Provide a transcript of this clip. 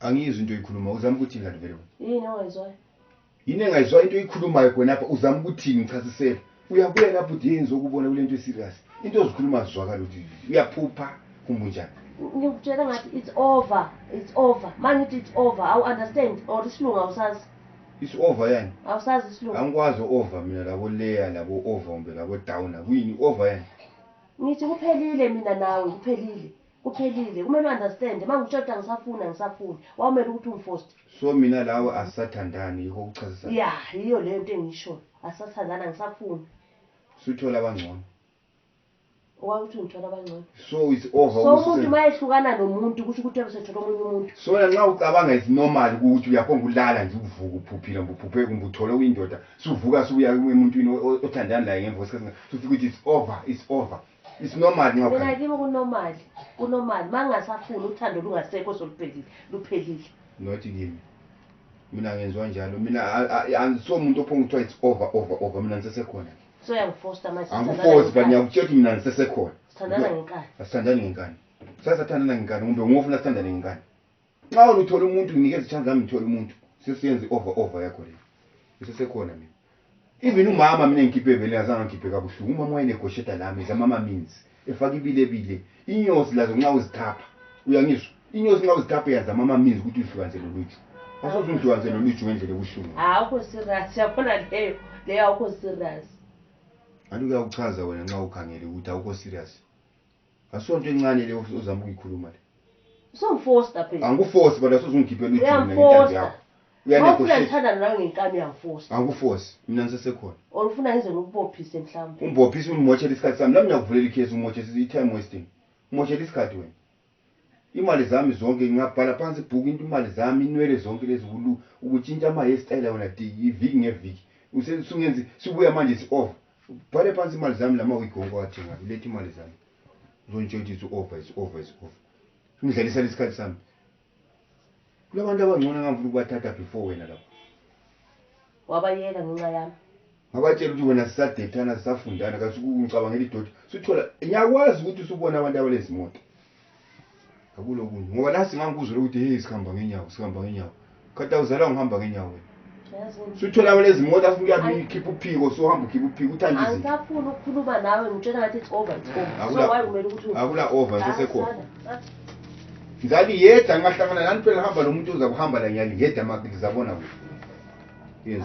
angiyizwi into oyikhuluma uzama ukuthini kanti vele yini ongayizwayo yini engayizwayo into oyikhulumayo khonapha uzama ukuthini ngichasisela uyabuya lapho uthi yenzi okubona kule nto eserious into ozikhuluma zizwakala ukuthi uyaphupha kumbe unjani ngikutshela ngathi it's over it's over ma ngithi it's over awu understand or isilungu awusazi it's over yani awusazi isilungu angikwazi over mina labo layer labo over kumbe labo down akuyini over yani ngithi kuphelile mina nawe kuphelile kuphelile kumele u-understand uma ngikutshela ukuthi angisafuni angisafuni wawumele ukuthi ungifoste so mina lawe asisathandani yikho kuchazisa ya yiyo leyo nto engishoyo asisathandani angisafuni suthola abangcono owakuthi ungithola abangcono so it's over so umuntu uma ehlukana nomuntu kusho ukuthi ebesethola omunye umuntu so na nxa ucabanga is normal ukuthi uyakhonga ulala nje uvuka uphuphile kumbe uphuphe kumbe uthole uyindoda suvuka subuya emuntwini othandani laye ngemva kwesikhathi sufika ukuthi it's over it's over It's normal mina nyoka. kimi kunormal kunormal uma ngingasafuni uthando lungasekho soluphelile luphelile Not kimi. Mina ngenzwa njalo. Mina a- a- angiso umuntu ophonga kuthiwa it's over over over mina ngisesekhona. so uyangifosta manje Angikufozi but ngiyakutshela ukuthi mina ngisesekhona. sithandana ngenkani Asithandani ngenkani. Sasathandana ngenkani kumbe ngofuna sithandane ngenkani. nxa wena uthole umuntu nginikeza ichance lami ngithole umuntu sesiyenza i-over over yakho le isesekhona mina even umama mina ngikhiphe ebeleni azange ngikhiphe kabuhlungu umama wayenegosheta lami zamama means efake ibilebile inyosi lazo nxa uzithapha uyangizwa inyosi nxa uzithapha yazamama means ukuthi uzihlukanise loluju asoze ungihlukanise loluju ngendlela ebuhlungu awukho serious yabona leyo leyo awukho serious anti kuyakuchaza wena nxa ukhangele ukuthi awukho serious asonto encane le uzama ukuyikhuluma le songifosta phela angikufosi but asuzungikhiphela ujini ngentambi Uyangiphosta. yakho mawufuna uyanegoshate ngithandane nawe ngenkani uyangifosta angikufosi mina ngisesekhona or ufuna ngize ngikubophise mhlawumbe umbophisa ungimotshela isikhathi sami nami ngiyakuvulela ikhesi umotshela i-time wasting umotshela isikhathi wena imali zami zonke ngingabhala phansi ibhuku into imali zami inwele zonke lezi ulu- ukutshintsha ama-hairstyle wena di- iviki ngeviki Use- sungenzi sibuya manje si-over bhale phansi imali zami lama wigi wonke owathengayo uletha imali zami uzongitshela ukuthi over is over is over ungidlalisela isikhathi sami kulabantu abangcono engangifuna ukubathatha before wena lapho wabayeka ngenxa yami ngabatshela ukuthi wena sisadethana sisafundana kasukungicabangela idoti suthola ngiyakwazi ukuthi usubona abantu abalezimoto akulokunye ngoba la singangikuzwela ukuthi hey sihamba ngenyawo sihamba ngenyawo khathi awuzalwa ngihamba ngenyawo wena Yazi wena. suthola wena izimoto afuna uyabe uyikhipha uphiko suhamba ukhipha uphiko uthanda izinto angisafuni ukukhuluma nawe ngitshela ngathi it's over it's over so Akula- why kumele ukuthi akula over nje sekhona ngani yedwa ngingahlangana nani phela hamba lo muntu uza kuhamba la nyali yedwa maki ngizabona kuhle yenza